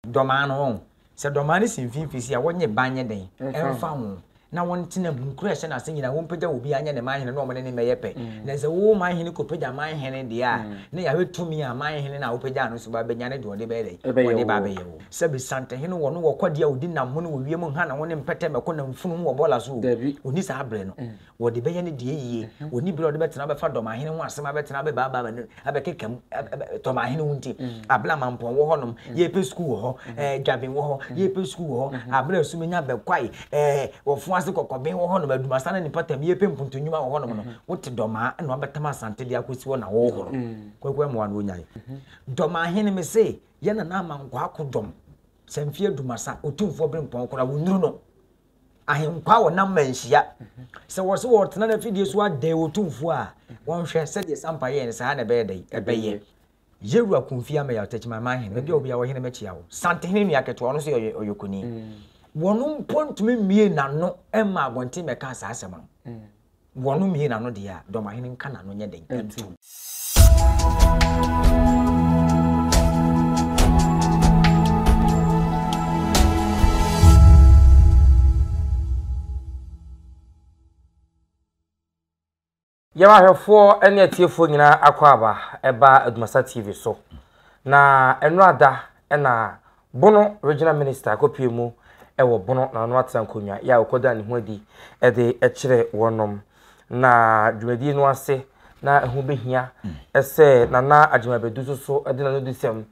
Dɔmaa no wɔn. Sɛ dɔmaa no si mfimfini si a, wɔnyɛ ban nyɛ dɛn mfa ho, na wɔntena mu. Nkuro a ɛhyɛ n'ase nyinaa, wɔmpagya obiara nyɛ ne man hene na wɔne no mmɛyɛ pɛ. Na sɛ wo man hene kɔpagya man hene deɛ a, na Yahwe tumi a man hene no a wopagyaa no so ba bɛnya no de ɔde bɛyɛ dɛn? Ɔde ba abɛyɛ wo. Sɛbe santehene wɔ no wɔ ɔkwadeɛ a ɔdi nam ho ne wɔ wiem ho, hana ho ne mpɛtɛ mmɛkɔ nam funu ho wɔ bɔɔla so o, ɔnni saa berɛ no. Wɔde bɛyɛ ne deɛ yie. Wɔnni berɛ a wɔde bɛtena abɛfa dɔm ahene ho asɛm abɛtena abɛbaabaa wɔn anim abɛkeka mu dɔm ahene wo nti. Abena mampɔn wɔ hɔnom, yɛrepɛ sukuu wɔ hɔ, ɛɛ Dwaben wɔ hɔ, yɛrepɛ sukuu wɔ hɔ, Abena Sumenya Bɛkwae, ɛɛ Wɔfoase Kɔkɔben wɔ hɔnom, Adumasa ne ne mpɔtam, yɛrepɛ mpuntu nnwuma wɔ hɔnom no, wote dɔmaa na wɔabɛtam Asante de akɔsi hɔ na wɔrehoro. Kwaku Amoah na ɔnyae. Dɔm ahene mese, yɛn Nana Amankwaa Kodwom, Sanfie Adumasa, Otumfoɔ Berempɔn koraa, wɔnnuru no. Ahenkwa a wɔnam ma nhyia. Sɛ wɔse wɔretena no afidie so adɛn Otumfoɔ a, wɔnhwɛ sɛdeɛ Sampa yɛɛ no saa na ɛbɛyɛ dɛn? Ɛbɛyɛ. Yewura Kofi Ameyaw Takyimanman Hene, baabi a obiara wɔ Hene mɛkyia wo. Santehene nua ketewa, ɔno nso yɛ ɔyɔkoni. Wɔn mpo ntumi mmue n'ano mma abɔnten mmɛka saa asɛm no. Wɔno mie n'ano deɛ a, dɔmahene nka n'ano nyɛ den ntom. Yɛn ahwɛfoɔ ne atiefoɔ nyinaa akwaaba ɛba Adumasa TV so. Na ɛnora da na Bono Regional Minister akɔpue mu wɔ Bono na ɔno atena nkonnwa yɛ a ɔkɔdaa ne ho adi de kyerɛ wɔnom na dwumadie no ase na ɛho bɛhia sɛ Nana Agyemang Badu so so de n'anodisɛm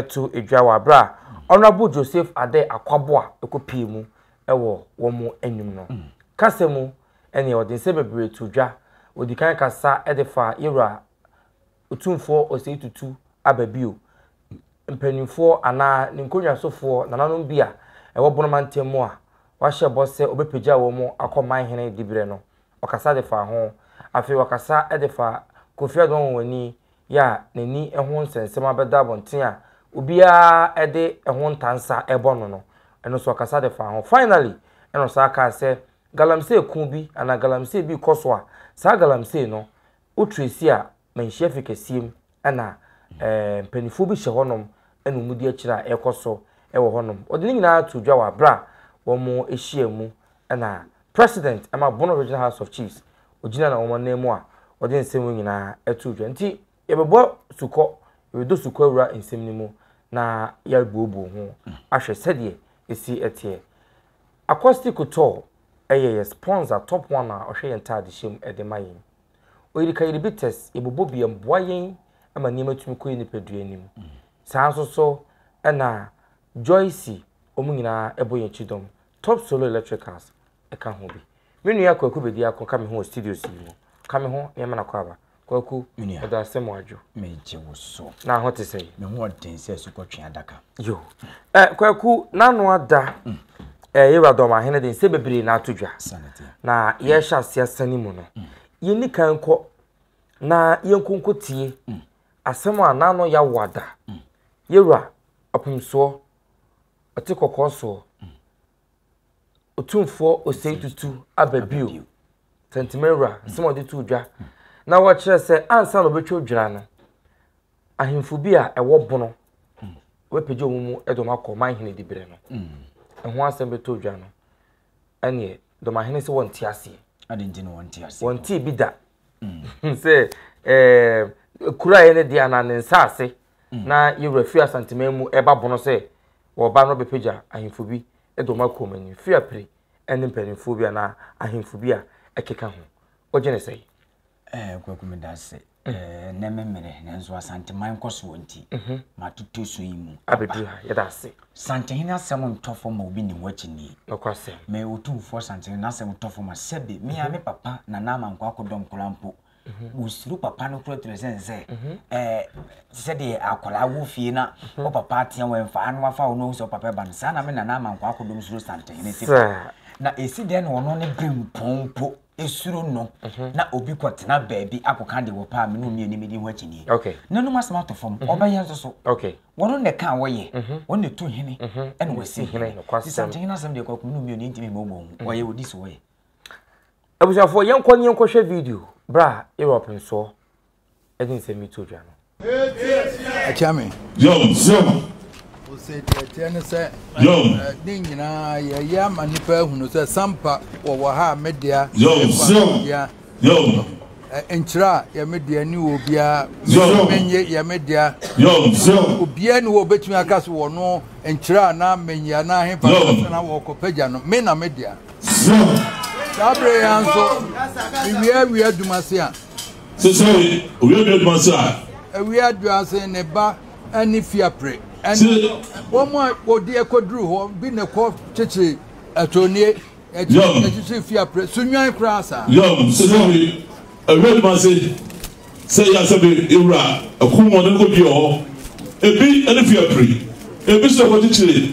to dwa wɔ aberɛ a Honourable Joseph Adeh Akwaboah ɛkɔpue mu wɔ wɔn anim no. Kasa mu ɛneɛ ɔde nsɛm bebree too dwa, ɔdikan kasa de faa Yɛwura Otumfoɔ Osei Tutu aba bio. Mpanimfoɔ anaa ne nkonnwasofoɔ nananom bi a ɛwɔ Bono mantam mu a wahyɛ bɔ sɛ ɔbɛpagya wɔn akɔ man hene diberɛ no, ɔkasa de faa ho. Afei ɔkasa de faa Kofi Ado Anwanwani yɛ a n'ani ho nsɛnsɛm abɛda abɔnten a obiara de ɛho ntansa rebɔ no no, ɛno nso ɔkasa de faa ho. Finally, ɛna ɔsan kaa sɛ galamsey ko bi anaa galamsey bi rekɔ so a, saa galamsey no Wo Tracy a manhyia fi kɛseɛ mu na mpaninfoɔ bi hyɛ hɔ nom na wɔn di akyire a ɛkɔ so wɔ hɔ nom. Wɔde ne nyinaa too dwa wɔ abere a wɔn hyia mu na President ma Bono Regional House of Chiefs ɔgyina na wɔn nan mu a wɔde nsɛm wei nyinaa too dwa. Nti yɛbɛbɔ sukɔ, yɛbɛdɔ sukɔ awura nsɛm no mu na yɛabuobuo ho ahwɛ sɛdeɛ ɛsi teɛ. Accosti Couture yɛ yɛ sponsor, top one a ɔhwɛ yɛn ntaadehyɛ mu de ma yɛn. Oyirikayiribites yɛ bobɔ bi a ɛboa yɛn ma nneɛma tumi kɔ yɛn nipadua anim. Saa nso so na Joyce, wɔn nyinaa ɛbɔ yɛn akyi dɔm. Top Solo Electricals ɛka ho bi. Me nua Kwaku Bedi Ako ka me ho wɔ studios yi mu. Ka me ho na yɛma no akɔ aba. Kwaku, ɛda ase mo adwo. Megye wo so. Na ho te sɛ? Me ho ɔden sɛ asukɔtwe adaka. Yo. Eh, Kwaku, n'ano ada. Mm. eh, yɛwura dɔm ahene de nsɛ bebree na ato dwa na yɛhyɛ ase asane mu no mm. yɛni kan kɔ na yɛnkonko tie mm. asɛm a n'ano yɛawo ada mm. yɛwura apomsoɔ ɔte kɔkɔɔ soɔ otumfoɔ osei tutu aba bio tɛntɛmɛwura asɛm a ɔde to dwa na wɔkyerɛ sɛ ansa na ɔbɛtwa odwira no ahemfo bi a ɛwɔ bono wɔapagya wɔn mu de wɔn akɔ ɔman hene diberɛ no mm. ɛho asɛm bɛtɔ odwa no ɛneɛ dɔmahene sɛ wɔnte aseɛ wɔntee bi da mm. sɛ eh, kura yɛ ne deɛ anaa ne nsaase mm. na yɛwura firi asanteman mu ɛba bono sɛ wɔba no bɛpagya ahemfo bi de wɔn akɔ ɔman ni firi apire ɛne mpanimfoɔ bi anaa ahemfo bi a ɛkeka ho wogye ne sɛe Ɛɛ Kwaku meda ase. Ɛnnɛ me mmere nanso Asanteman nkɔsoɔ nti matotɔ su yi mu abɛduru ha. Yɛda ase. Santehene asɛm ntɔ fam ma obi nni ho akyinnye. Nokwasɛm. Me Otumfoɔ Santehene n'asɛm ntɔ fam a sɛbe me ara me papa Nana Amankwah akɔdɔ nkwadaa mpo wɔsuro papa no kura tiri sɛn sɛ ɛɛ sɛdeɛ akwadaa wɔ fie na wo papa atea wɔn mfa ano afa wɔn sɛ wo papa ba no saa na me Nana Amankwah akɔdɔm suro Santehene sɛ na ɛsi dɛn na ɔno ne bempɔn mpo esuro no mhm. na obi kɔ tena baabi akɔka de wɔpɛ a me ne omi anim di ho akyinnye nanom asɛm ato fam mhm. ɔbɛyɛ nso so wɔn na ɛka wɔyɛ mhm. wɔn na ɛtu hene ɛna wɔsi hene sisante hene asɛm deɛ kɔkɔ me ne omi anim ntumi mmɔbɔ ho ɔyɛ wɔdi so wɔyɛ abusuafoɔ yɛnkɔ ne yɛnkɔhwɛ video berɛ a europe nsoɔ ɛde nsɛm yi to dwa no. Akyia me. Yom yom. Ose tiɛtiɛ ne sɛ. Yom. Ne nyinaa yɛyɛ ama nipa ehunu sɛ sampa wɔwɔ ha a me dea. Yom yom. Yom. Nkyerɛ a yɛ me dea ni wɔ obiara. Yom. Menye yɛ me dea. Yom yom. Obiara ni wɔ obetumi aka so wɔ no nkyerɛ a na menye a na ahe pa na wɔkɔ pagya no me na me dea. Yom. Saa bere yɛn nso mewie awie adwuma se a. Sesɛɛ owia dua adwuma so a. Awia dua se ne ba ne fiapre ne wɔn a wɔdi ɛkɔduru hɔ bi na ɛkɔ kyekyere ɛtonie ɛkyekyere fiapre so nwan koraa saa. Yɔm sesɛɛ awia adwuma se sɛ yɛ asɛbe ewura ɛko mu ɔne kɔdua hɔ ebi ne fiapre ebi so ɛkɔ kyekyere.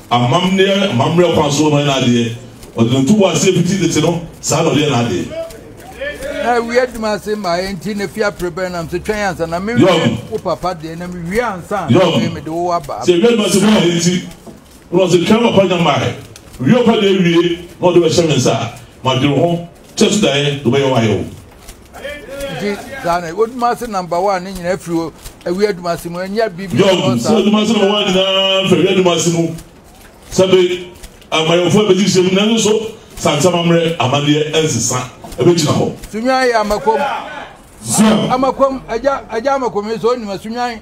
Amammerɛ amammerɛ kwan so no ɔyɛ n'adeɛ, ɔde no to bo ase fiti tete no, saa na ɔde yɛ n'adeɛ. Na awie adwuma ase mmaeɛ nti na fie apere bɛn nam so twɛn ansa na mewie wo papa deɛ na mewie ansa na afei mede wo aba. Sɛ awie adwuma ase mmaeɛ nti na wɔn sɛ twɛn papa nya mmaeɛ, wie wo papa deɛ awie na wɔde wo ahyɛ me nsa a, madwene ho kyɛ so daeɛ na wɔbɛyɛ wo ayɛ wo. nti saa na woduma ase namba wa ne nyinaa firi hɔ awi aduma ase mu ɛnyɛ biribi jɔn sɛ aduma ase namba wa nyinaa firi awi aduma ase mu sɛbe amayɔfo ɛbɛgye hyɛ mu nanso so sansama mmerɛ amadeɛ ɛnsesa ɛbɛgyina hɔ. sunwan yɛ amakom amakom agya agya amakom yi sɛ ɔnim asunwan.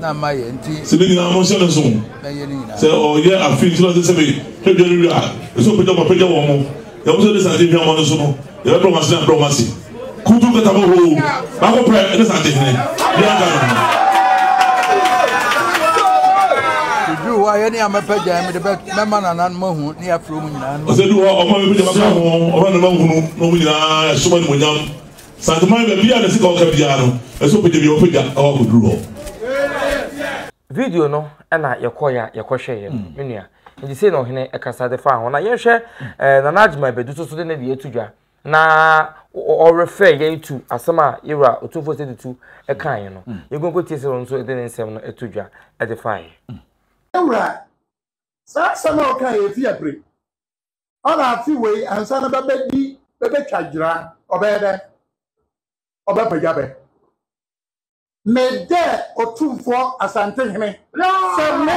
na mayɛ nti. Sɛ ne nyinaa monhyɛ ne nso. Mɛyɛ ne nyinaa. Sɛ ɔyɛ afe nti na ɔsɛ sɛ me hwɛ dwa no wie a, ɛsɛ ɔpagya wɔn apagya wɔn mo. Yɛn mo sɛ ne sante hwɛ wɔn no so no, yɛbɛbrɛ wɔn ase na abrɛ wɔn ase. Kutu nkata mo hoo, baako pɛ ne sante hene, bi anka ne ho. Duru hɔ a yɛne a mɛpagya yɛn mede mɛma nananom ahu ne afiri wɔn nyinaa. Ɔsɛ duru hɔ a ɔma mɛpagya maka ho, ɔma ne ma hunu na wɔn nyinaa ɛsoma ne monyam. Santeman baabi a ne sika ɔka biara no ɛsɛ ɔpagya bia ɔpagya ɛwɔ akɔduru hɔ. Video no na yɛkɔɔeɛ a yɛkɔhwɛeɛ no me nua. Nti sei na ɔhene kasa de faa ho. Na yɛnhwɛ eh, Nana Agyeman Badu nso so de ne deɛ ato dwa na ɔrefɛ yɛn tu asɛm a yɛwura Otumfoɔ Sɛ Tutu kaeɛ no. Mm. Yɛnkɔnkɔ tie sɛ ɔno nso de ne nsɛm no ato dwa de faeɛ. Mm. Yɛwura, saa asɛm a ɔkaeɛ fi abere. Ɔna afe wei ansa na bɛbɛdi bɛbɛtwa dwera ɔbɛyɛ dɛ ɔbɛpagya bɛ me dɛ Otumfoɔ Asante Hene sɛ me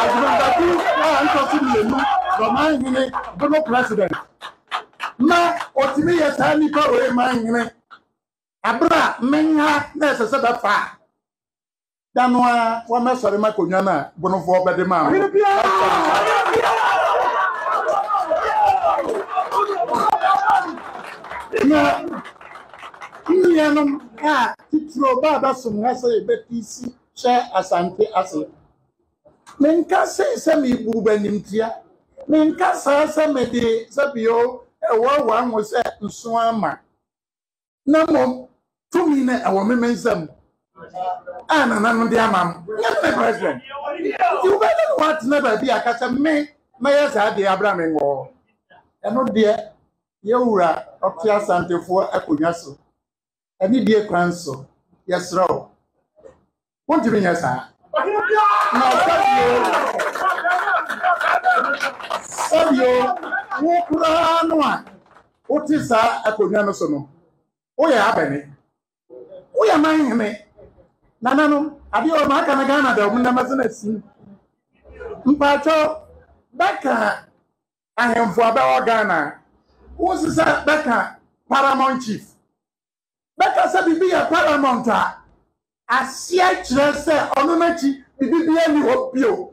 Agyemangatu a ntɔ so mmienu dɔ man hene Bono president ma ɔtumi yɛ saa nnipa wei man hene abere a me nha na ɛsɛ sɛ bɛfa a da no ara wɔmmɛsɔre ma konwa no a bonofoɔ bɛde maa no. Na nnuanom a titiro ba bɛsom ha sɛ yɛbɛte si hyɛ Asante ase. Menka sei sɛ merebu bɛnimtia. Menka saa sɛ mede sɛbio ɛwɔwaa mo sɛ nsoa ma. na mmom tumi no ɛwɔ me me nsam mu a nana no de ama m nyɛ me ne president nti wobɛyɛ ne woatena baabi a ka sɛ me mɛyɛ saa deɛ abra me ngɔ hɔ ɛno deɛ yɛwura ɔte asantefoɔ akonnwa so ɛne die kwan so yɛserɛ wo Wontumi nyɛ saa. Na sɛbio, sɛbio, wo koraa no a wote saa akonnwa no so no, woyɛ abɛne. Woyɛ man hene. Nananom, adeɛ ɔma aka no Ghana da, ɔmo nam ase na sim. Mpakyɛ, bɛka ahemfo a bɛwɔ Ghana, wosisa bɛka Paramount Chief. bɛka sɛ biribi yɛ paramount a, aseɛ kyerɛ sɛ ɔno no akyi biribi biara nni hɔ bio.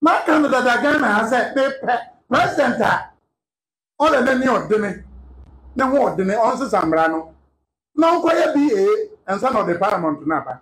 Maka no dada Ghana ha sɛ mepɛ president a ɔda n'ani ɔdene, ne ho ɔdene, ɔnsesa mmara no na ɔnkɔyɛ BA ansa na ɔde paramount no aba.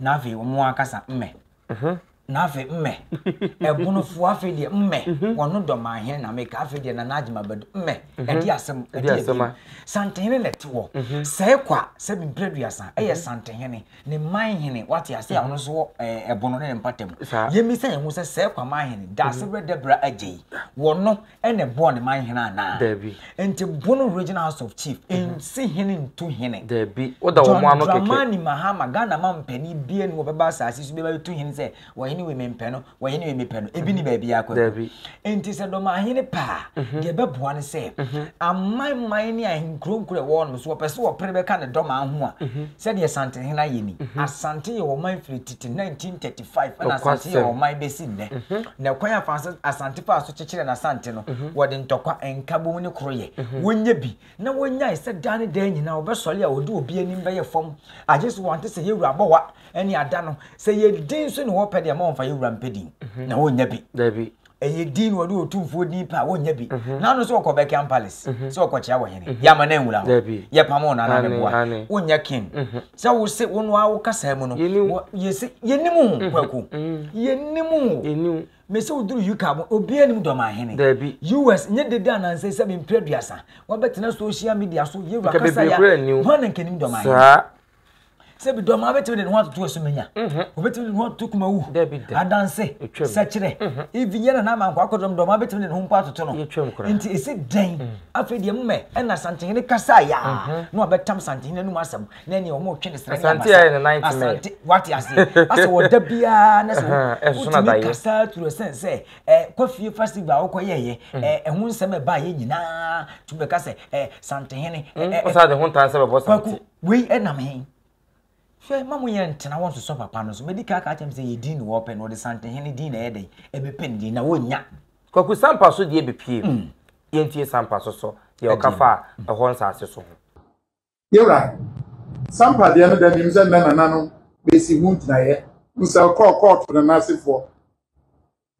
na afei wɔn ankasa mmɛ. Na afei mmɛ. Ɛbonofoɔ afei deɛ mmɛ. Wɔn dɔ maa hɛn na meka afei deɛ Nana Agyeman Badu mmɛ. Ɛdi asɛm ɛdi ɛbim. Santehene na ɛte hɔ. Sɛ ɛkɔ a sɛ bi mprɛduasa ɛyɛ Santehene ne Manhene wate ase a ɔno nso wɔ ɛbono ne ne mpata mu. Yɛmmisa yɛn ho sɛ sɛ ɛkɔ a Manhene Daase Berɛ Dabira Agyei wɔn ɛna ɛbɔɔ ne man hene anaa? Dabi. Nti Bono Regional House of Chief mhm. nsi hene ntu hene. Dabi. Woda wɔn mo ano kɛkɛ. John Dramani Mahama Ghana ma mpani bie no wɔbɛba asase so bɛba tu hene sɛ wɔhene wei mempɛ no wɔhene wei mepɛ no ebi ni mhm. baabi akɔ. Dabi. Nti sɛ dɔm ahene paa mhm. deɛ ɛbɛboa no sɛ aman man ne ahenkuro nkuro ɛwɔ no so wɔpɛ sɛ wɔpere bɛka ne dɔm aho a sɛdeɛ Asante hene ayɛ ni. Asante yɛ wɔn man firi tete 1930 five ɛna asante yɛ ɔman bɛsi nnɛ na ɛkwan a asante faa so kyekyerɛ na asante no wɔde ntɔkwa nkabom ne koroyɛ wɔnyɛ bi na wɔnyae sɛ daa ne daa nyinaa wɔbɛsɔre a wɔde obi anim bɛyɛ fam agye so wɔnte sɛ yɛwura abɔwa ɛne ada no sɛ yɛdin so ne wɔpɛ deɛ ma wɔmfa yɛwura mpɛ din na wɔnnya bi ɛyɛ din na wɔde otumfoɔ din pɛ a wɔnyɛ bi mhm. na ano sɛ ɔkɔ Buckingham Palace mhm. sɛ ɔkɔkyea wɔ hene mhm. yɛama no anwura hɔ yɛpam wo nana meboa wonyɛ king sɛ wo se wo no a wokasaa mu no yɛse yɛnim ho kwaku yɛnim ho mese woduru uk a obiaa nim dɔma ahene us nyɛ dede anansɛ sɛ mempere aduasa wabɛtena social media so yɛwura kasa ya hɔ na nkanim dɔma ahene sɛ bi dɔm abɛtumi de ne ho atoto asumanya obɛtumi de ne ho atoto kumawu adanse sɛkyerɛ ivi nyɛ na nama nkɔ akɔdɔm dɔm abɛtumi de ne ho mpo atoto no nti ɛsi dɛn afei deɛ mmɛ ɛna santehene kasa yɛ a na ɔbɛtam santehene anum asɛm na ɛneɛ wɔn ɔtwe ne serɛ nyɛ asante wate aseɛ asɛ wɔda biara na sɛ wotumi kasa turu ɛsɛn sɛ kɔfie festival a wokɔyɛɛyɛ ɛho nsɛm ɛbaeɛ nyinaa tumi bɛka sɛ santehene ɔsa de ho ntansɛ bɛbɔ sante Wei nam he? Hwɛ, ma mo yɛ ntena wɔ nsosɔ papa no so. Madi ka aka akyerɛ mo sɛ yɛ din na wɔpɛ no, wɔde Santehene din na ɛyɛ dɛn? Ɛbɛpɛ ne din, na wɔnnya. Kwaku Sampah so deɛ bepue mu. Yɛntie Sampah so so deɛ ɔka faa ɛhɔ nsase so ho. Yɛwura, Sampah deɛ no da nim sɛ nnɛ Nana no bɛsi ho gyinaeɛ. Nsɛl kɔɔ kɔɔto na n'asefoɔ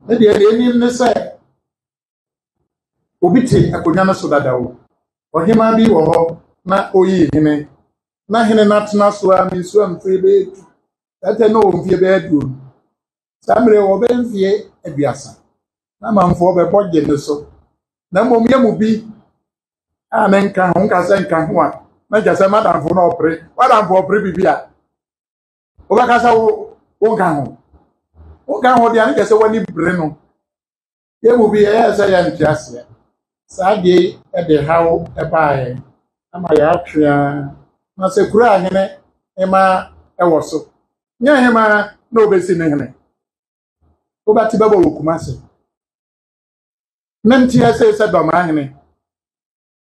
no deɛ deɛ ɛnim ne sɛ. Obi te akonnwa no so dada o. Ɔhemaa bi wɔ hɔ na ɔreyi hene. Na hene no atena so ara ma nsuo mfiri bɛyɛ du. Ɛtɛ na ɔwɔ mfeɛ bɛyɛ aduonu. Saa mmerɛ wɔ bɛyɛ mfeɛ aduasa. Na amanfoɔ bɛbɔ gye no so. Na mmom yɛ mu bi a ne nka ho nka sɛ nka ho a na kyerɛ sɛ madamfo na ɔpere. Wadamfo ɔpere biribi a wobɛka sɛ wo nka ho. Wo nka ho deɛ na kyerɛ sɛ w'ani bere no. Yɛn mu bi yɛyɛɛ sɛ yɛnte aseɛ. Saa adeɛ yi de haw baa yɛn ama yɛatwe ara ma sɛ kuro a hene hemaa wɔ so, nyɛ hemaa na ɔbɛsi no hene. Wobɛte bɛbɔ wɔ Kumase. Mente aseɛ sɛ Dɔmaa hene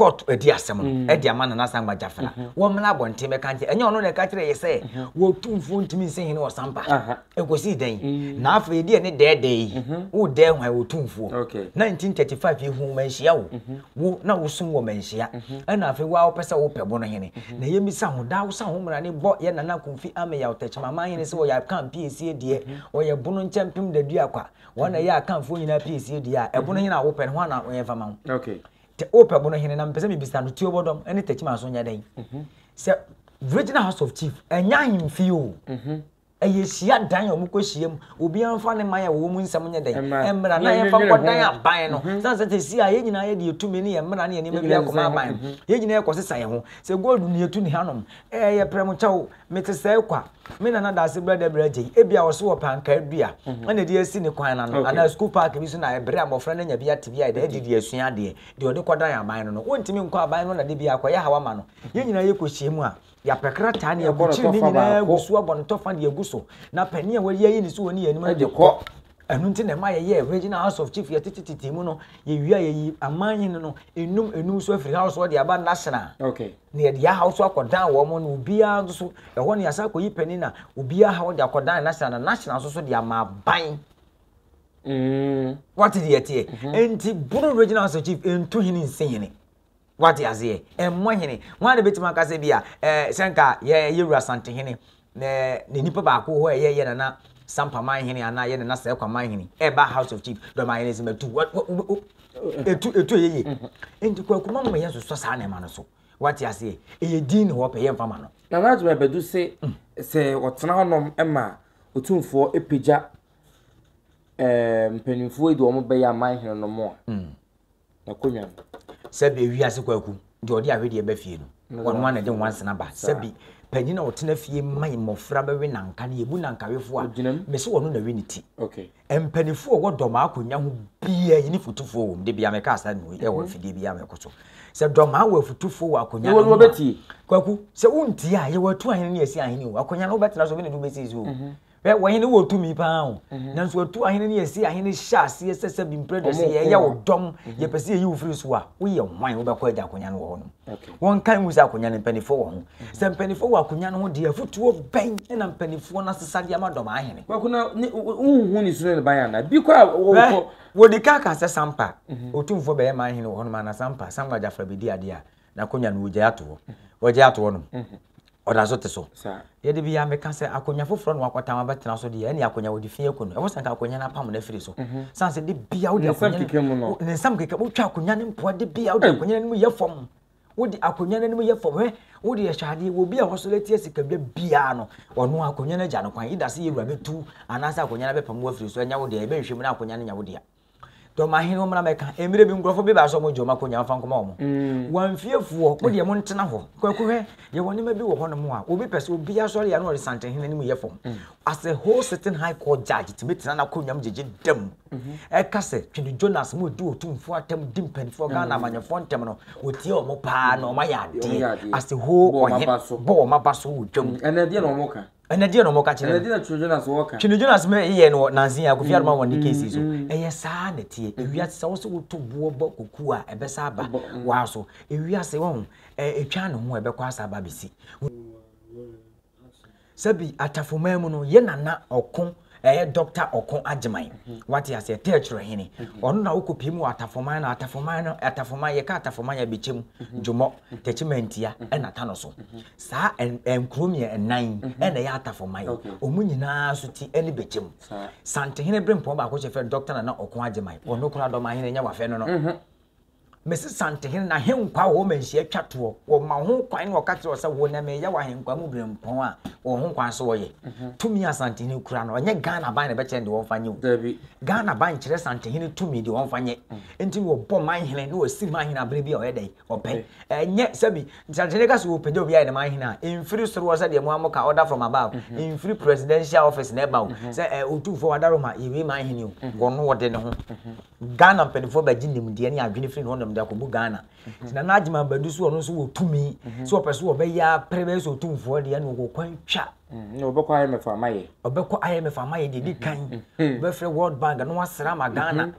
court adi asɛm no mm. de ama nana asangba jafela mhm. wɔn mmena abɔnten bɛka nkyɛ ɛnyɛ ɔno na ɛka kyerɛ yɛ sɛ mhm. wɔtu mfuo ntumi nsɛ hene wɔ sampa ɛkɔsii dɛn mm. na afei ɛdeɛ ne dɛɛdɛɛ yi mhm. wo dɛɛ hwan wɔtu mfuo 1935 yi hu manhyia wo wo na wosom wɔ manhyia ɛna afei woa wopɛ sɛ wopɛ bo no hene na yɛmmisa ho daa wo sa ho mmara ne bɔ yɛ nana komfi ame yɛ ɔtɛkyema ma hene sɛ wɔyɛ aka mpiesie deɛ ɔyɛ bono nkyɛmpem dadua kwa wɔn na ɛyɛ akamfoɔ nyinaa piesie deɛ a ɛbono hene a wopɛ no ho ana wɔyɛmfa ma ho Te o pɛbo no hene na mepɛ sɛ mebisa no tuo bɔdɔm ne takyima so nyɛ dɛn mhm. sɛ regional house of chief ɛnyɛ ahemfie o mhm. ɛyɛ hyia dan a wɔkɔ hyia mu obiara mfa ne man a wɔwɔ mu nsɛm nyɛ dɛn mmara na yɛmfa nkɔ dan aban no mhm. sane sɛ tɛsi a yɛn nyinaa yɛde yɛtumi ne yɛ mmara ne yɛnneɛma bi akɔma aban yɛn nyinaa yɛkɔ sesa yɛ ho sɛ gold ne yɛtu ne hanom ɛyɛ prɛmo kyɛw Mete sɛɛ kwa. Me nana da ase brɛdɛ brɛgye yi, ebia ɔso wɔ pankaa dua na ɛde asi ne kwan no ano, anaa sukuu paake bi so na ɛbere a mmɔfra no anya bi ate bi a ɛda adi de asua adeɛ, deɛ ɔde kɔdan aban no no, wontumi nkɔ aban no na da biara akɔyɛ haw ama no. Yɛn nyinaa yɛkɔhyia mu a, yɛapɛ krataa na yɛakɔkyere ne nyinaa agu so abɔ no tɔfa de agu so, na panin a wɔayi ayi ne so wɔ ne yɛn anim no de kɔ. Ɛno nti na ɛma yɛyɛɛ Regional House of Chief yɛtete tete mu no yɛwie a yɛyi amanhene no enum enum so afiri house hɔ de aba national okay. na yɛde yɛ house akɔdan wɔn mo na obiara nso so ɛhɔ ne yɛasa akɔyi panin na obiara ha wɔde akɔdan national na national nso so de ama aban mm. wate deɛ ɛteɛ mm-hmm. nti boro regional house of chief ɛntu hene nsɛ hene Wate aseɛ? Ɛmmɔ hene. Wɔn a na bɛtumi aka sɛ bi a, ɛɛ, sɛ nka yɛ yɛ wura Santehene, na na nipa baako hɔ ɛyɛ yɛ nana Sampa Manhene anaa yɛ nana Sɛkwa Manhene ɛba House of Chief dɔm ayɛ ne sɛ matu. Wa, wa, wa, wa, etu etu ɛyɛ yie nti kwaku ma mama yɛn soso saa nneɛma no so wate aseɛ ɛyɛ din ne hɔ pɛ yɛn fama no. na n'adwuma ɛbɛdu se mm. sɛ ɔtena hɔnom ma otumfoɔ epagya ɛɛ mpanimfoɔ yi de wɔn bɛyɛ aman hene no mo a. Mm. N'akonwa no. Sɛ bi ewiase kwaku deɛ ɔde ahwedeɛ ba fie no wɔn a na ɛde nwansena ba sɛ bi panyin a ɔtena fie ma mmɔfra bɛwe nanka no yɛbu nankawefo a mese wɔn na we ne ti mpanimfoɔ a wɔdɔ maa akonnwa ho bia yɛne futufoɔ wɔm de bia meka asa nui ɛwɔ mfidie bia mɛkɔ so sɛ dɔ maa wɔ afutufoɔ wɔ akonnwa no ho kwaku sɛ wontie a yɛwɔ atu ahene ne yɛsi ahene o akonnwa no wobɛtena so wene no wobɛsi so o Ɛ wɔn hene wɔ tumi paa o nanso ɔtu ahene ne yɛsi ahene hyɛ aseɛ sɛ sɛ bi mprɛ dɛ sɛ yɛyɛ wo dɔm yɛpɛ sɛ yɛyi wo firi so a woyɛ hwan wobɛkɔ agya akonnwa no wɔ hɔ nom wɔnkan mu sɛ akonnwa no mpanimfoɔ wɔ ho sɛ mpanimfoɔ wɔ akonnwa no ho deɛ afotuo bɛn na mpanimfoɔ no asesadeɛ ama dɔm ahene wohu ne suro ne ban ana bi kɔ a wɔwɔ wɔdi ka ka sɛ sampa ɔtumfoɔ bɛyɛ ma ahene wɔ hɔ nom ana sampa sampa gyafra bɛdi adeɛ a N'akonwa no wogyae ato hɔ. Wɔagyae ato hɔ nom. Ɔda so te so. Deɛ da biara meka sɛ akonwa foforɔ na wakɔtam abɛtena so deɛ ɛne akonwa wɔde fi aku no. Ɛwɔ sɛ nka akonwa no apam no afiri so. Sane sɛ da biara wode akonwa no ne nsam keka wotwa akonwa no mpoa da biara wode akonwa no anim yɛ fam. Wode akonwa no anim yɛ fam. Hwɛ wode yɛ hwɛ adeɛ wɔ bi a wɔsɔre atia sikadwa biara no ɔno akonwa no agya no kwan. Ida sɛ yɛwura bɛtu anaasɛ akonwa no abɛpam wafiri so anya wo deɛ ɛbɛnhwɛ mu na akonwa no nya wo deɛ. Dɔ ma hene ɔmena mɛka. Mmerɛ bi nkurɔfoɔ bi baa sɛ wɔn gye wɔn akonnwa mfa nkɔma wɔn. Mm. Wɔn mfiefoɔ mo deɛ mo ntena hɔ. Kwaku hwɛ yɛ wɔn nneɛma bi wɔ hɔ nom a obi pɛ sɛ obi asɔre yɛ na ɔde sante hene no mu yɛ fam. Mm. As a whole sitting high court judge tumi tena n'akonnwa mu gyegye dam. Mm-hmm. Ɛka sɛ twene Jonas mo di otumfoɔ atam di mpanimfoɔ Ghana mm. amanyɔfoɔ ntɛm no wɔtie wɔn paa na wɔn ayɛ adeɛ. As a whole ɔhene bɔ wɔn aba so wɔ dwam. Mm. Ɛnna ɛdeɛ na wɔn ka. Ɛnɛ deɛ na ɔmɔ ka kyerɛ no. Ɛnɛ deɛ na Twene Jonas wɔ ka. Twene Jonas mɛ yɛ no nansi ya kofi aroma wɔn ne kesi so. Ɛyɛ saa na tie. Ewia sɛ wɔn sɛ woto boɔ bɔ kuku a ɛbɛ sa aba waa so. Ewia sɛ wɔn etwa ne ho ɛbɛ kɔ asa aba besi. Sɛbi atafo mɛmu no yɛ nana ɔko Ɛyɛ Doctor Ɔko Agyeman, wate aseɛ, Tɛɛkyerɛ Hene. Ɔno na wokɔ pie mu wɔ Atafoman no, Atafoman no, Atafoman, yɛka Atafoman a bɛkyɛ mu, Dwomɔ, Tɛkyɛ Mantia, ɛna Tano so. Saa nkuro mmiɛ nnan yi ɛna ɛyɛ Atafoman. Wɔn nyinaa nso ti ɛne bɛkyɛ mu. Santehene Berempɔn baako hyɛ fɛ Doctor Nana Ɔko Agyeman, ɔno kura Dɔmahene, nyɛ wafɛ no no. Mese Santehene n'ahenkwaa wɔ hɔ ma nhyia twa toɔ. Wɔma ho kwan na wɔka kyerɛ sɛ wo na meyɛ w'ahenkwaa mu berempɔn a wɔ ho kwan so wɔyɛ. Mhm. Tumi a Santehene kura no, ɔnyɛ Ghana ban na ɛbɛkyerɛ no deɛ wɔmfa nyɛ o. Ghana ban kyerɛ Santehene tumi deɛ wɔmfa nyɛ. Mm. Nti na wɔbɔ manhene na wɔsiri manhene aberɛ bi a ɔyɛ dɛn ɔpɛ. Ɛnyɛ sɛbi Santehene ka sɛ wɔpagya obi ayɛ ne manhene a, mfiri soro hɔ sɛdeɛ moa moka order from above, mhm. mfiri presidential office na ɛba o. Mhm. Sɛ otumfoɔ wada Roma yɛwei manhene o, wɔno wɔde ne ho. Ghana mpanimfoɔ bɛgye nimdeɛ ne adwene firi hɔnom de akɔgu Ghana. Nti Nana Agyeman Badu so ɔno nso wɔ tumi mm-hmm. sɛ ɔpɛ so ɔbɛyɛ apere bɛyɛ sɛ ɔtumfoɔ deɛ na ɔwɔ kwan twa. Mm-hmm. Na ɔbɛkɔ IMF ama yɛ. Ɔbɛkɔ IMF ama yɛ deɛ di kan. Mm-hmm. Ɔbɛfrɛ World Bank na wasra ama Ghana.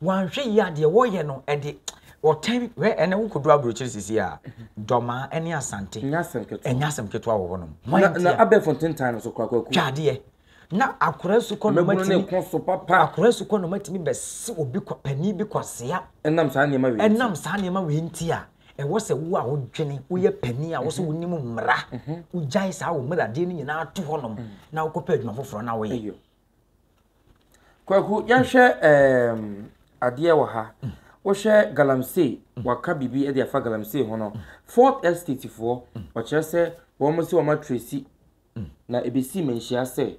Wanhwɛ yi adeɛ wɔyɛ no ɛde ɔtɛn wɛ ɛnɛ wo kodu aburokyiri sisi a dɔmaa ɛne asante ɛnyɛ asɛm ketewa wɔ hɔnom. Na abɛɛfo ntentan no so kɔ akɔku. Twa adeɛ. Na akora nsukɔ na ɔmatumi. Mmabunu ne so papa. Akora nsukɔ na ɔmatumi bɛsi obi kwa panin bi kwasea. Ɛnam saa nneɛma wei. Ɛnam saa nneɛma wei nti a ɛwɔ sɛ wo a wodwene woyɛ panin a wɔsɛ wonim mmara mhm. wogyae saa wo mmaradeɛ no nyinaa to hɔnom mhm. na wokɔpɛ adwuma foforɔ na woyɛ. Kwaku yɛhwɛ ɛɛm adeɛ wɔ ha. Mm. wohwɛ galamsey mm. waka biribi de afa galamsey ho no mm. fourth estate foɔ wɔkyerɛ sɛ wɔn sɛ wɔn atresi na ebesii Manhyia sɛ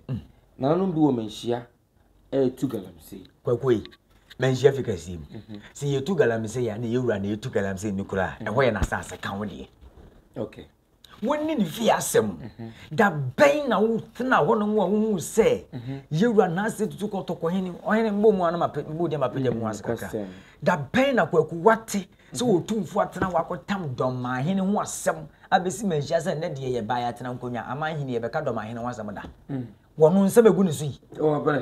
nananom bi wɔ Manhyia retu galamsey. Kwakuei, Manhyia fi kaseɛ mu. Mhm. Sɛ yɛtu galamsey a na yɛwura na yɛtu galamsey no kura a, ɛhɔ yɛ n'asase ka wo deɛ. Okay. Wɔnni ne fie asɛm. Mhm. Da bɛn na wotena hɔ nom a wohuu sɛ mhm. yɛwura n'ase tutu kɔtɔkɔ hene ɔhene mbɔ mu ano ma mbɔ deɛ ma pagya mu ase kakra. Da bɛn na kwaku wate Sɛ Otumfo atena hɔ akɔtam dɔmahene ho asɛm abɛsi manhyia sɛ nnɛ deɛ yɛbaeɛ atena nkonnwa ama ahene yɛbɛka dɔmahene ho asɛm da. Mm. Wɔ no nsɛm ɛgu ne so yi.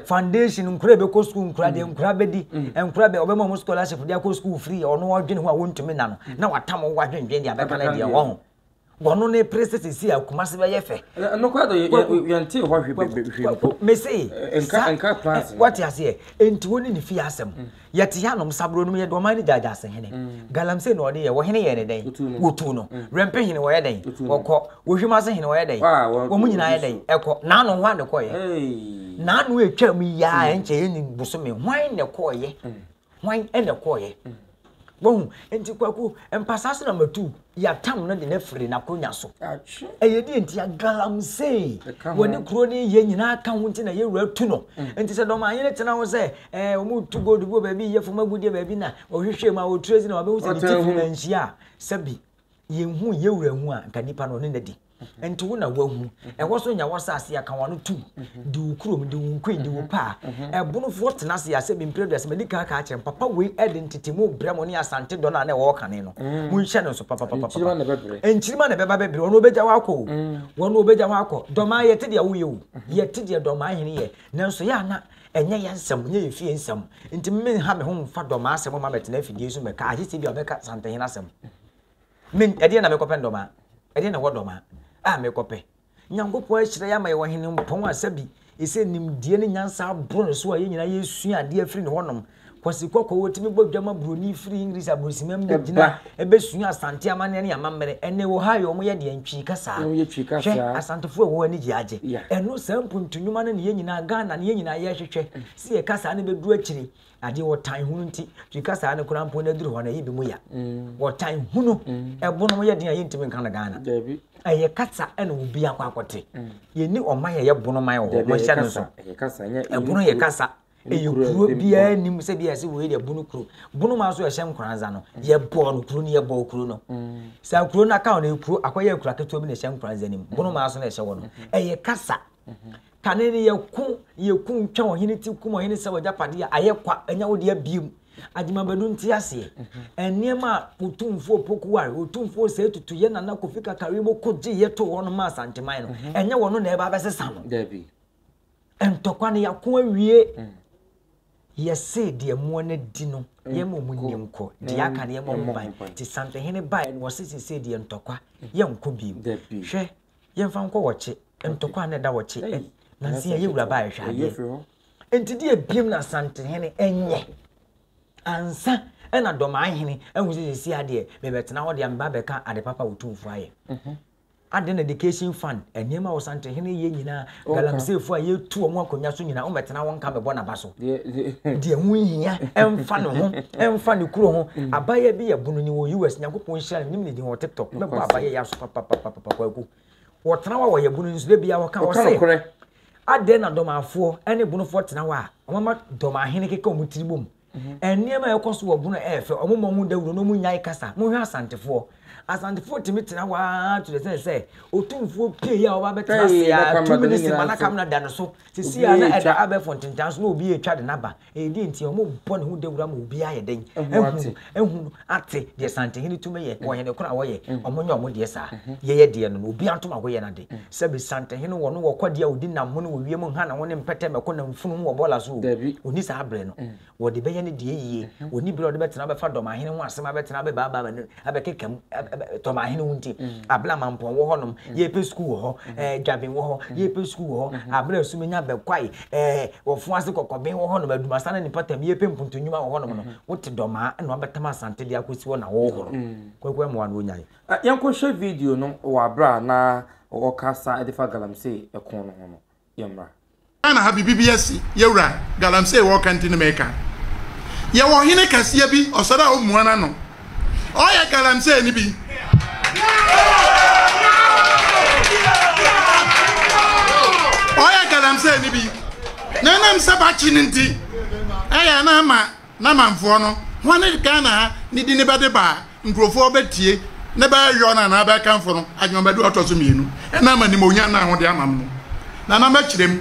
Foundation nkora ɛbɛkɔ sukuu nkora deɛ mm. nkora bɛdi mm. nkora bɛ ɔbɛma ɔmo scholarship de akɔ sukuu free ɔno ɔdwene ho a wɔntumi na no na watam ho wadwendwen deɛ abɛka no deɛ wɔn ho. wɔno ne pere sɛ sɛsi a kumase bɛyɛ fɛ nokorɛ dɔ yɛntee hɔ hwe mpo mese eh, eh, wate aseɛ enti wo ne ne fie asɛm mm. yɛte yɛ anom saboro nom yɛde ɔman ne gyaagya ase hene mm. galamsey na ɔde yɛ wɔhene yɛ ne dɛn wɔtu no mm. werɛmpe hene wɔyɛ dɛn wɔkɔ wɔhwim ase hene wɔyɛ dɛn wɔ mu nyinaa yɛ dɛn ɛkɔ naano ho ane kɔyɛ naano atwa mu yiaa ɛnkyɛ yɛni bosome hwan ne kɔɔyɛ Hwan na ɛkɔeɛ? Wahu? Nti Kwaku, mpasaa so na matu Yatam no de no afiri n'akonya so. Ɛyɛ deɛ nti a galamsey wɔde kuro no yɛ nyinaa ka ho nti na yɛwura tu no. Mm. Nti sɛ dɔmanyere tena ho sɛ ɛɛ wɔn tu gold bi wɔ baabi yɛ fam agudeɛ baabi na ɔhwehwɛ mu a ɔtire si na ɔbɛhu sɛ ne ti fi na nhyia a sɛbi yɛnhu yɛ wura hu a nka nipa no ɔne no adi nti wo na wahu ɛhɔ so nya wɔsase aka wɔn ano tu de wo kurom de wo nkui de wo paa ɛbonofoɔ tena ase asɛ bi mpere duasa mɛdi kan ka akyerɛ papa wei ɛde ntetemu brɛ mo ne asante dɔ no a na ɛwɔ kane no mm. monhyɛ no nso papapapa nkyirima na ɛbɛba bɛbrɛ wɔn ɔbɛgya hɔ akɔ mm. wɔn ɔbɛgya hɔ akɔ dɔmaa yɛte deɛ woyɛ o mm-hmm. yɛte deɛ dɔmaa hene yɛ nanso yɛ ana Ɛnyɛ yɛn nsɛm, ɛnyɛ yɛn fie nsɛm. Nti me menha me ho mfa dɔmaa asɛm mma mɛtena afidie so mɛka agye sɛ bi a ɔbɛka santehene asɛm. Me ɛdeɛ na mekɔpɛ dɔmaa. Ɛdeɛ na ɛwɔ dɔmaa a mekɔpɛ. Nyankopɔn ahyira yɛ ama yɛwɔ hene mpɔn a sɛbi ɛsɛ nimdeɛ ne nyansa aboro ne so a yɛn nyinaa yɛsua adeɛ afiri ne hɔnom. Kwasi Kɔkɔɔ otumi bɔ dwa ma buroni firi English aburosimam mu bɛgyina ɛbɛsua Asante amanneɛ ne amammerɛ. Ɛnnɛ wɔ Ohio wɔyɛ deɛn? Twi kasa. Hwɛ, Asantefoɔ a ɛwɔ hɔ ani gye agye. Ɛno saa mpuntu nnwuma no ne yɛn nyinaa Ghana ne yɛn nyinaa yɛrehwehwɛ sɛ yɛ kasa no bɛduru akyire. Adeɛ ɔtan hunu nti Twi kasa no koraa mpo no aduru hɔ no ɛyɛ bi mu ya. Ɔtan hunu ɛbonom yɛ den a yɛntumi nka no Ghana. Ɛyɛ kasa ɛna obi akɔ akɔte. Yɛnni ɔman a ɛyɛ bonoman wɔ hɔ. Monhyɛ no nso. Ɛbono yɛ kasa. ɛyɛ kuro biara nim sɛ bi ɛsɛ wei deɛ bunu kuro bunu ma nso ɛhyɛ nkoranza no mm. yɛbɔɔ no kuro no yɛbɔɔ kuro no mm. saa kuro no aka no kuro akɔyɛ akura ketewa bi na ɛhyɛ nkoranza nim mm. bunu ma nso na ɛhyɛ wɔ no mm-hmm. ɛyɛ kasa mm-hmm. kane no yɛko yɛko ntwa ɔhene ti kum ɔhene sɛ wɔgya padeɛ ayɛ kwa ɛnya wo deɛ biem agyimabadu nti aseɛ mm-hmm. nneɛma a otumfoɔ pokuware otumfoɔ sɛ etutu yɛ nana kofi kakari mo ko gye yɛ to hɔ no ma asanteman no ɛnyɛ wɔn no na ɛba abɛsesa no Ntɔkwa no yɛako awie. Yɛse deɛ moa no adi no yɛn ma ɔmo nni nkɔ deɛ aka no yɛn ma ɔmo ban nti santehene baeɛ no wɔse sese deɛ ntɔkwa yɛn nkɔ bi mu hwɛ yɛn fa nkɔ wɔkye ntɔkwa na ɛda wɔkye ɛ nansi yɛn yɛ wura baeɛ hwɛ adeɛ nti deɛ ebiem na santehene ɛnyɛ ansa ɛna dɔmaahene ɛho sɛ sese adeɛ mebɛtena hɔ deɛ meba bɛka ade papa wotumfoɔ ayɛ mhm. Adɛn na education fund, nneɛma a Ɔsantehene yɛ nyinaa, galamiseefoɔ a yɛtu wɔn akonnwa so nyinaa, wɔmmɛtena hɔ nka mebɔ n'aba so. Deɛ ɛho nhia, ɛmfa ne ho, ɛmfa ne kuro ho. Mm. Abayewa bi yɛ bono ni wɔ US, Nyankopɔn nhyira no, menim ne din wɔ TikTok. Mɛbɔ abayewa yi aso papapapapa kwaku. Wɔtena hɔ a wɔyɛ bono nso, da bia wɔka wɔ se, adɛn na dɔmafoɔ ne bonofoɔ tena hɔ a, wɔmama dɔmahene keka wɔn tiri bom. Nneɛma a ɛkɔ so wɔ Bono yɛ fɛ, wɔmmɔ ho dawuro na wɔnnyae kasa. Monhwɛ Asantefoɔ. Asantefoɔ tumi tena hɔ ara to the extent sɛ Otumfoɔ pie yi a ɔba bɛtena ase a two minutes ma na kamera da ne so. Sisi a na ɛda abɛɛfo ntentan so na obi retwa de no aba. Ɛyɛ deɛ nti a wɔmmɔ ne ho dawuro ama obiara ayɛ dɛn ahu no. ate deɛ Santehene tumi yɛ, ɔhene koro a wɔyɛ, ɔmo nyɛ ɔmo deɛ saa. Yɛyɛ deɛ no no, obiara ntom ago yɛ n'ade. Sɛbe Santehene wɔ no wɔ ɔkwadeɛ a odi nam ho ne wɔ wiem nha ne ho ne mpɛtɛ mɛko nam funu ho wɔ bɔɔla so o, onni saa berɛ no. Wɔde bɛyɛ ne deɛ yie. Onni berɛ a ɔde bɛtena abɛfa Dɔmahene ho asɛm abɛtena abɛbaabaa m'ani abɛkeka mu Dɔmahene wo nti. Ablamampɔn wɔ hɔnom, yɛrepɛ sukuu wɔ hɔ, Dwaben wɔ hɔ, yɛrepɛ sukuu wɔ hɔ, aberɛ a Sumennya bɛkwae ɛɛ wɔfun ase kɔkɔben wɔ hɔnom adumasan ne ne mpɔtam yɛpɛ mpuntu nnwuma wɔ hɔnom no wote dɔmaa ɛna ɔbɛtam asante de akɔsi hɔ na wɔhoro kwaku amoa no ɔnyae yɛnkɔhwɛ video no wɔ aberɛ a na ɔkasa de fa galamsey ɛko no ho no yɛmmra. Ghana ha bibi bi asi yɛwura galamsey wɔka nti ne meka yɛwɔ hene kɛseɛ bi ɔsɔre a ɔmmua n'ano ɔyɛ galamsey no bi ɔyɛ galamsey no bi na ɛnam sɛ bakye no nti ɛyɛ na ama n'amanfoɔ no ho ne ghana ha ne di ne bɛde baa nkurɔfoɔ bɛtie ne bɛyɔ no anaa bɛkamfo no adwumabɛde ɔtɔ so mmienu ɛna ama nimonyam no ahode ama no na na mɛkyerɛ mu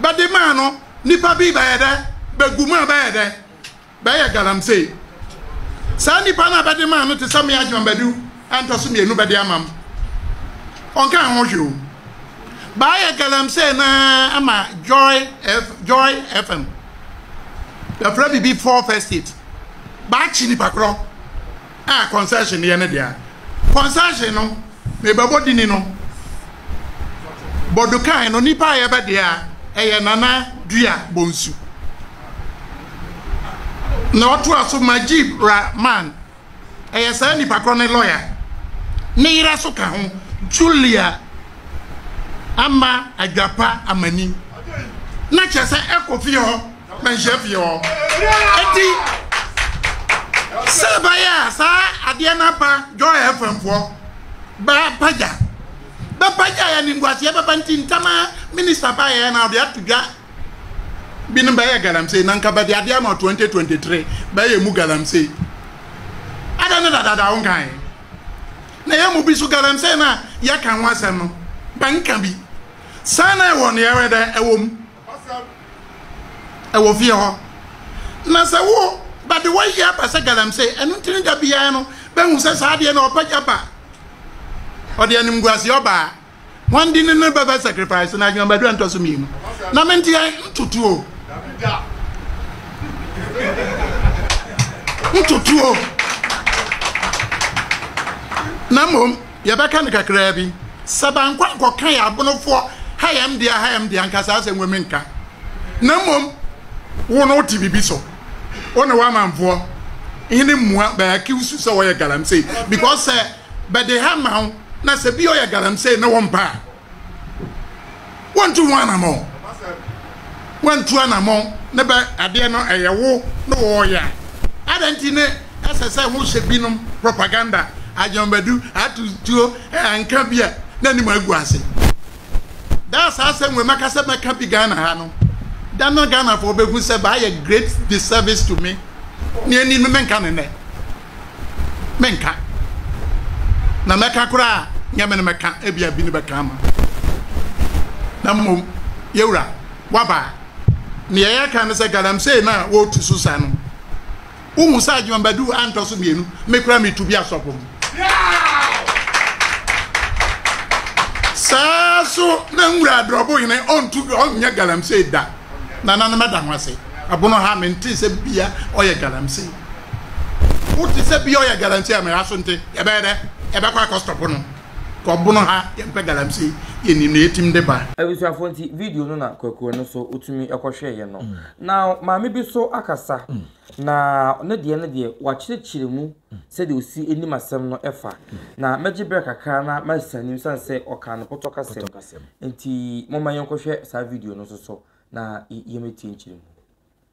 bɛde maa no nnipa bi bɛyɛ dɛ bɛgu mu a bɛyɛ dɛ bɛyɛ galamsey. Saa nnipa no a bɛde maa no te sɛ me Agyman Badu a ntɔ so mmienu bɛde ama m'. Ɔnkaa ho hwee o. Bɛayɛ galamsey no ara ama Joy F, Joy FM. Bɛfrɛ biribi Four First State. Bɛakye nnipa korɔ. a concession yɛ ne dea. Concession no me bɛbɔ dini no bɔdukan no nipa a yɛbɛ dea ɛyɛ Nana Dua Bonsu. Na ɔtoa so Majib Ra man ɛyɛ saa nipa korɔ ne lɔya ne yerɛ so ka ho Julia Ama Adwapa Amani. Na kyerɛ sɛ ɛkɔ fie hɔ. Mɛnhyɛ fie hɔ. Eti sɛ bɛyɛ a saa adeɛ no aba Joy FM foɔ bɛpagya bɛpagya yɛ nimguaseɛ bɛba nti ntɛma minista baeɛ na ɔde ato dwa binom bɛyɛ galamsey na nka bɛde adeɛ ama 2023 bɛyɛ mu galamsey ada ne dadada wo nkae na yɛ mu bi so galamsey na yɛka ho asɛm no bɛnka bi saa na ɛwɔ ne yɛwɛ dɛ ɛwɔ mu Asɛm wɔ fie hɔ. Na sɛ wo ba de wayi aba sɛ galamsey, ɛno nti ne da biara no bɛhu sɛ saa adeɛ no ɔpagya ba. Ɔde animguaseɛ ɔbaa. Wɔn de ne no bɛbɛ sacrifice na adwuma bɛdura ntɔ so mmienu. Na me nti yɛ ntotuo. Ntotuo. Na mmom. Yɛbɛka no kakraa bi. Sɛ bankɔ ankɔka yɛ abonofoɔ ha yɛ m dea ha yɛ m dea nka saa asɛm wei menka. Na mmom wo no wote biribi so wo ne w'amanfoɔ hene mmua bɛ accuse wo sɛ wɔyɛ galamsey because sɛ bɛde ha ma wo na sɛ bi ɔyɛ galamsey ne wo mpɛ a Wontu ho anamɔn. Woantu anamɔn ne bɛ adeɛ no ɛyɛ wo ne wɔɔyɛ a, adɛn nti ne ɛsɛ sɛ ho hyɛ binom propaganda, adwambadu, ato tuo, anka bi a na anim agu ase. Da a saa asɛm wei mɛka sɛ mɛka bi Ghana ha no, da no Ghanafoɔ bɛhu sɛ bɛayɛ great disservice to me, ne anim no menka no nnɛ. menka na mɛka koraa nyɛ me no mɛka ebia bi no bɛka ama na mmom yɛwura waba nea yɛka no sɛ galamsey no a wɔretu so sa no wohu sɛ adwemabadu antɔ so mmienu me koraa metu bi asɔpo mu saa so na nwura adrɔbo hene ɔntu ɔnyɛ galamsey da nananom ɛda ho ase abono ha mente sɛ bia ɔyɛ galamsey wote sɛ bia ɔyɛ galamsey a mɛra so nte yɛbɛyɛ dɛ yɛbɛkɔ akɔstɔpo no kɔbono ha yɛmpɛ galamsey yɛnim na yɛtim de ba. Abusuafo nti video no na kwakuo no so wotumi kɔhwɛeɛ no. Now maame bi so akasa na ne deɛ no deɛ wakyerɛkyerɛ mu sɛdeɛ osi nim asɛm no fa. Na mɛgye berɛ kakra na mɛsan anim sane sɛ ɔkaa no pɔtɔkasɛm nti momma yɛnkɔhwɛ saa video no nso so na yɛmɛtie nkyerɛmu.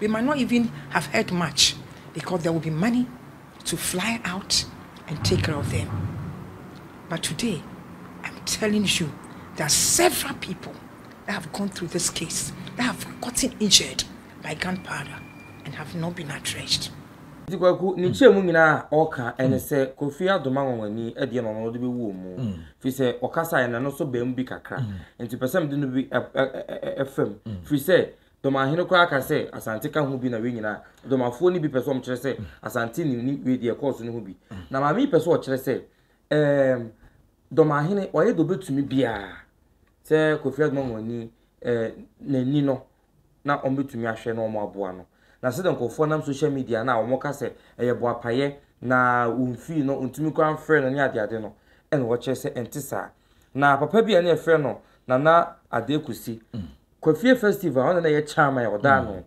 We might not even have heard much because there will be money to fly out and take care of them. But today, I'm telling you, there are several people that have gone through this case that have gotten injured by gunpowder and have not been addressed. nti kwaku ne kyerɛ mu nyinaa a ɔka ɛne mm. sɛ kofi adoma nwanwani adeɛ ma ɔno de bɛwu wɔn mu mm. firi sɛ ɔkasa yɛ n'ano so bɛn mu bi kakra mm. nti pɛ sɛ mede no bi ɛfam firi sɛ Domahene koraa ka sɛ Asante ka ho bi na wei nyinaa Domafoɔ no bi pɛ sɛ wɔn kyerɛ sɛ Asante nim ne wei deɛ ɛkɔɔ so no ho bi. Na maame yi pɛ sɛ ɔkyerɛ sɛ ɛɛm Domahene wayɛ deɛ ɔbɛtumi biara sɛ Kofi Adumamu ani ɛɛ n'ani no na wɔn bɛtumi ahwɛ na wɔn aboa no. Na sɛdeɛ nkurɔfoɔ nam social media no a wɔn ka sɛ ɛyɛ boapayɛ na wɔn fee no ɔntumi koraa mfrɛ no ne adeade no ɛna ɔkyerɛ sɛ ɛnte saa. Na papa bi a na yɛfrɛ no Nana Adekusi Kwafie Festival, ɔno na na ɛyɛ chairman a ɔda ano.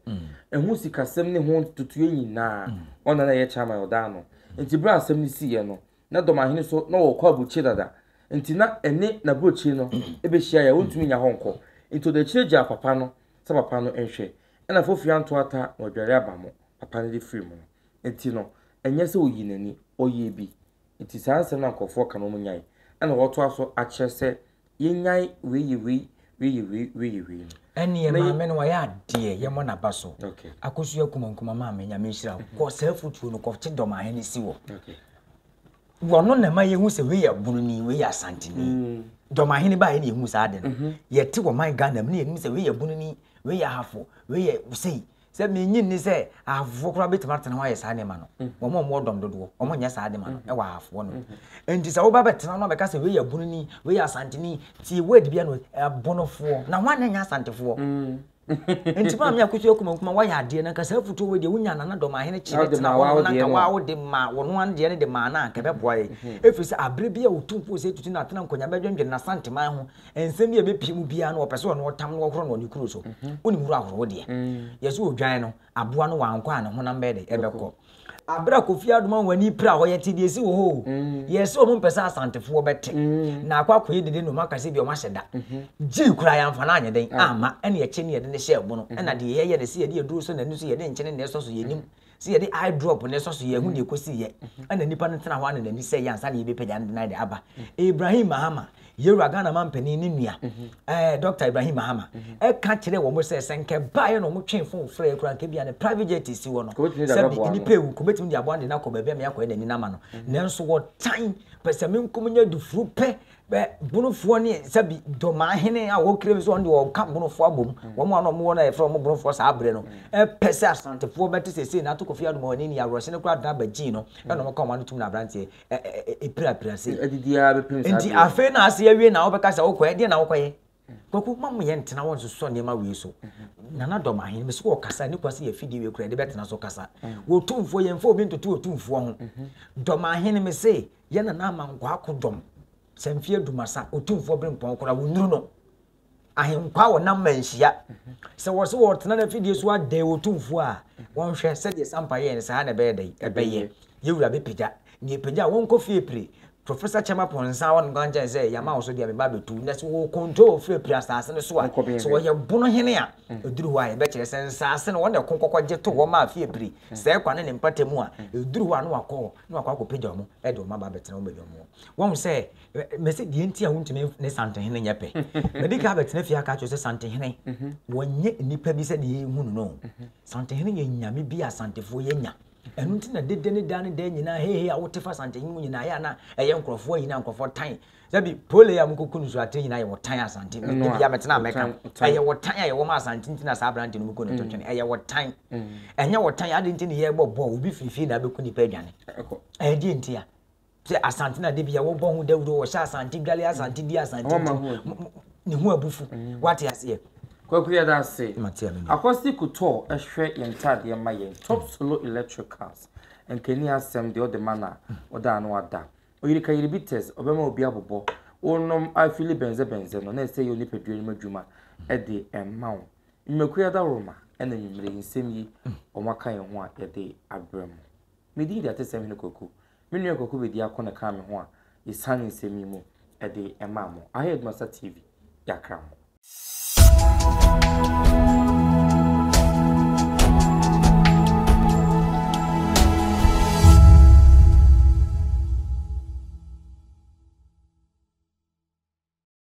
Ɛho sikasɛm ne ho ntotoeɛ nyinaa, ɔno na na ɛyɛ chairman a ɔda ano. Nti berɛ a asɛm no siiɛ no, na Dɔmahene nso na ɔkɔ aburokyire dada. Nti na ɛne n'aburokyire no bɛhyiaeɛ a ɔntumi nnya hɔ nkɔ. Nti ɔde akyire gyaa papa no sɛ papa no nhwɛ. Ɛna Fofiri Anto Ata na ɔdware aba mo papa no de firi mu no. Nti no, ɛnyɛ sɛ ɔyii n'ani, ɔyɛɛ bi Enti saa nsɛm no a nkurɔfoɔ ka no wɔn nyae. Ɛna wɔtoa so akyerɛ sɛ yɛnyae wei yɛ wei, wei yɛ wei, wei yɛ wei no. Ɛneɛ Mɛyɛ- maame no wayɛ adeɛ yɛmmɔ naba so Okay. akosu akuma nkuma maame nyame nhyira wo kɔ saa afutuo no kɔkye dɔm ahene si wɔ Okay. wɔno na ɛma yɛhu sɛ wei yɛ bununi wei yɛ asanteni Mm. dɔm ahene baayɛ na yɛhu saa ade no yɛte wɔ man ghana mu ne yɛnim sɛ wei yɛ bununi wei yɛ ahafo wei yɛ sei Sɛ minnye nni sɛ ahafo koraa betumi atena hɔ ayɛ saa nneɛma no. Wɔn a wɔwɔ dɔm dodoɔ, wɔn nyɛ saa nneɛma no wɔ ahafo hɔ no. Nti sɛ woba bɛtena no abɛka sɛ wei yɛ bununi, wei yɛ asanteni, tie word bi ano, ɛbonofoɔ, na wɔn a na nyɛ asantefoɔ. Nti maame akotua kuma kuma wɔyɛ adeɛ na nka saa afutuo wei deɛ wonya nana dɔm ahene kyi bɛtena hɔ no na nka waa wode ma wɔn ano deɛ no de maa no a nka ɛbɛboa yɛ. Ɛfiri sɛ abere bi a otumfoɔ sɛ tutu na atena nkɔnya bɛdwendwene na santeman ho Nsɛm bi a ɛbɛpie mu biara no wɔpɛ sɛ ɔno ɔtam no wɔhoro no wɔ ne kuro so. Wonim horo ahoro wo deɛ. Yɛsɛ ɔdwan no, aboa no wankɔ a ne honam bɛyɛ dɛ ɛbɛkɔ. Aberɛ a Kofi Adom a w'ani pira hɔ yɛte deɛ ɛsi wɔ hɔ o. Yɛsɛ wɔn mpɛ sɛ Asantefoɔ bɛte. Na akɔ akɔyɛ dede na wɔn aka sɛ bi wɔn ahyɛ da. Gyii koraa yɛamfa no anyɛ dɛn amma ɛna yɛkyɛ ne yɛde no hyɛɛ bono ɛna deɛ yɛyɛ no sɛ yɛde aduro sɔ n'ani so yɛde nkyene na ɛsɔ so yɛnim Sɛ yɛde eye drop na ɛsɔ so yɛn ho na ɛkɔsi yɛ ɛna nipa no tena hɔ ana n'ani sɛ yɛ ansa na yɛbɛpagya no denan de aba Ibrahim Mahama yɛwura Ghana ma mpanin ne nua ɛɛ Dr. Ibrahim Mahama ɛka kyerɛ wɔn sɛ sɛ nkɛ baeɛ na wɔn twe fon frɛ kura nkɛ bia ne private jet si hɔ no sɛ bi nipa ewu nkɔ bɛtumi de aboa no de no akɔ baabi ama yɛakɔ ɛna ani nama no nanso wɔtan pɛ sɛ menkom nyɛ dufuru pɛ Bɛ Bonofoɔ ne sɛbi Domaa hene a ɔkira bi sɛ ɔno deɛ ɔka Bonofoɔ abom. Wɔn a na wɔwɔ no a yɛfrɛ wɔn Bonofoɔ saa berɛ no pɛ sɛ Asantefoɔ bɛte seesei no Ato Kofi Adom a wɔn ani aworɔse no koraa Daba Gyee no na wɔka wɔn ano tom no aberanteɛ pirapira sei. Nti afei na ase awie na wobɛka sɛ wokɔɛ? Deɛn na wokɔyɛ? Kwaku ma mo yɛ ntena hɔ nsosɔ nneɛma wei so. Nana dɔm ahen mesi wɔ kasa ne kwasi yɛ fidie wei kura yɛde bɛtena so kasa. Wɔ tumfoɔ yɛn fo obi ntoto wɔ tumfoɔ ho. Dɔm ahen mesi yɛ nana ama nkwa ako dɔm. Sɛ mfi adumasa otumfoɔ bere mpɔn kora wo nuru no. Ahenkwa wɔ nam ma nhyia. Sɛ wɔ se wɔ tena na fidie so adɛ wɔ tumfoɔ a wɔn hwɛ sɛ deɛ sampa yɛ ne saa na ɛbɛyɛ dɛ ɛbɛyɛ. Yɛwura bɛpagya Nea epagyaw wɔn kɔ fie pire. Professor Kyɛma Ponsah wɔn nka nkyɛn sɛ yɛama wo so deɛ me ba bɛtu na sɛ wɔwɔ control firi pire asaase no so a sɛ wɔyɛ bono hene a ɛduru hɔ a yɛbɛkyerɛ sɛ nsaase no wɔn na ɛko kɔkɔgye to hɔ maa fie pire sɛɛ kwa ne ne mpata mu a ɛduru hɔ a na wakɔ hɔ na wakɔ akɔpagya wɔn de wɔn aba abɛtena wɔn baabi a wɔwɔ wɔn sɛ mɛsɛ deɛ nti a wontumi ne santehene nyɛ pɛ mɛdi ka abɛtena fie aka kyerɛ sɛ santehene wɔnyɛ nnipa bi sɛ deɛ yɛhu no no santehene yɛ nyame bi a santefoɔ yɛnya Ɛno nti na dede ne daa ne daa nyinaa hehe a wote fa Asante hene mu nyinaa yɛ a na ɛyɛ nkurɔfoɔ ayi na nkurɔfoɔ tan. Sɛbi pole a mokɔku no so atere nyinaa yɛ wɔtan Asante. Ɛno a, Ebia metena a mɛka. wɔtan, wɔtan. Ɛyɛ wɔtan a yɛwɔ ma Asante nti na saa aberante no moku no to twene. Ɛyɛ wɔtan. Ɛnyɛ wɔtan a, adɛn nti na yɛrebɔ bɔɔl, obi firi fie na abɛku nnipa adwane? Ɛkɔ. Ɛdeɛn nti a? Sɛ Asante na da bia wɔbɔ ho dawuro, wɔhyɛ Asante dwale, Asante di, Asante nti, ne ho abufu. Wate aseɛ? Kwaku yɛda ase. Akwasi Kotɔɔ ɛhwɛ yɛn ntaadeɛ ma yɛn. Top Solo Electricals. Nkani asɛm deɛ ɔde ma no a, ɔda ano ada. Oyirika Yiribites, ɔbɛma obi abobɔ. Wonom afili bɛnzɛ bɛnzɛ no, na ɛsɛ yɛ onipadua no mu adwuma de ma wo. Nnwumakuo adaworoma ɛna anwumerɛ yi nsɛm yi wɔaka yɛn ho a yɛde abrɛ mo. Me din de Atesɛm Hene Kwaku. Me nua Kwaku Bediako na ɛkaa me ho a yɛsan nsɛm yi mu de maa mo. Aha yɛ Adumasa TV, yɛakra mo.